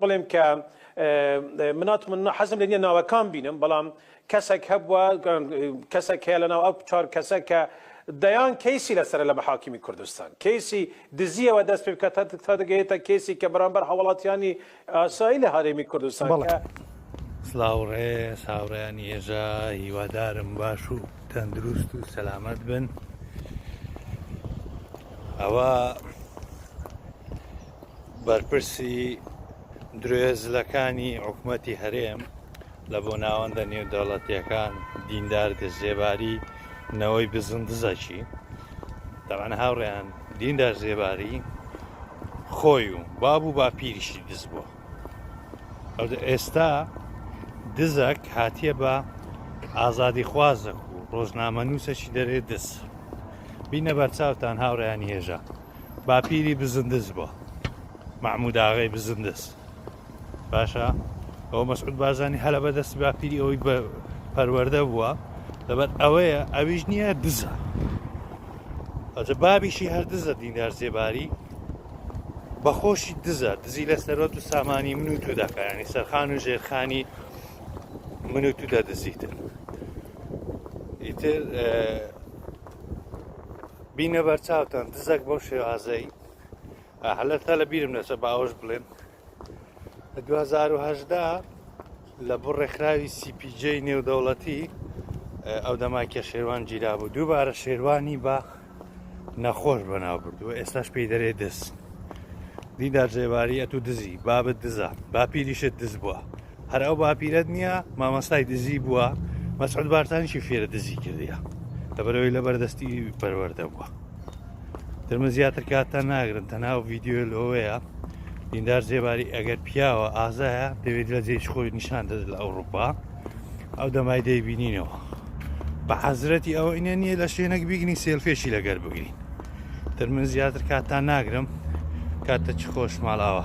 بڵێم کە مناتمننا حەزم لە نیە ناوەکان بینم بەڵام کەسێک هەبووە کەسێک هەیە لە ناو ئەو چوار کەسە کە دەیان کەیسی لەسەر لە محاکمی کوردستان کەیسی دزیەوە دەست پێ بکات تا دەگەێتە کەیسی کە بەرامبەر هەوڵاتیانی ئاسایی لە هەرێمی کوردستان سلااوڕێ ساوڕیانی هێژا هیوادارم باش و تەندروست و سەلامەت بن ئەوە بەرپرسی درێزلەکانی حکومەتی هەرێم لە بۆ ناوەندە نێودەوڵەتیەکان دیندار زێباری نەوەی بزن دزەکی دەوان هاوڕێیان دیندار زێباری خۆی و باب و باپیریشی دز بووە ئێستا دزەک هاتیە بە ئازادی خوازە و ڕۆژنامە نووسەکی دەرێ دز بینە بەرچاوتان هاوڕیانی هێژە باپیری بزندز بووە مەعموداغی بزندز باشە ئەو مەسعود بازانی هەلە بەدەستی باپیری ئەوەی بە پەروەەردە بووە لەبەر ئەوەیە ئەویش نییە دزە ئەجە بابیشی هەر دزە دیندار زێباری بەخۆشی دزە دزی لە سەرۆت و سامانی من و تو دەکەیانی سەرخان و ژێرخانی من و تو دەدزیتن ئیتر بینە بەر چاوتان دزەک بەو شێوازەی هەلە تا لە بیرم نەچە بە ئەوەش بڵێن لە 2010دا لە بۆ ڕێکخراوی سیپیجەی نێودەوڵەتی ئەو دەماکیە شێوان گیرا بوو دووبارە شێوانی بە نەخۆش بەناو بردووە ئێستاش پێی دەرێ دەست دیدار جێواری ئەتو دزی بابت دزە باپیریشت دز بووە هەر ئەو باپیرەت نییە مامەسای دزی بووە مەسعود بارتانیشی فێرە دزی کردە لەبەرەوەی لە بەردەستی پەروەەردە بووە درمە زیاتر کاتە ناگرن تەناو ڤیددیو لەوەیە دیندار زێباری ئەگەر پیاوە ئازایە دەوێت لە جێش خۆی نیشان دەست لە ئەوروپا ئەو دەمای دەیبینینەوە بە حەزرەتی ئەوە ئینە نییە لە شوێنەک بیگنی سێلفێشی لەگەر بگرین تر من زیاتر کاتان ناگرم کاتە چ خۆش ماڵاوە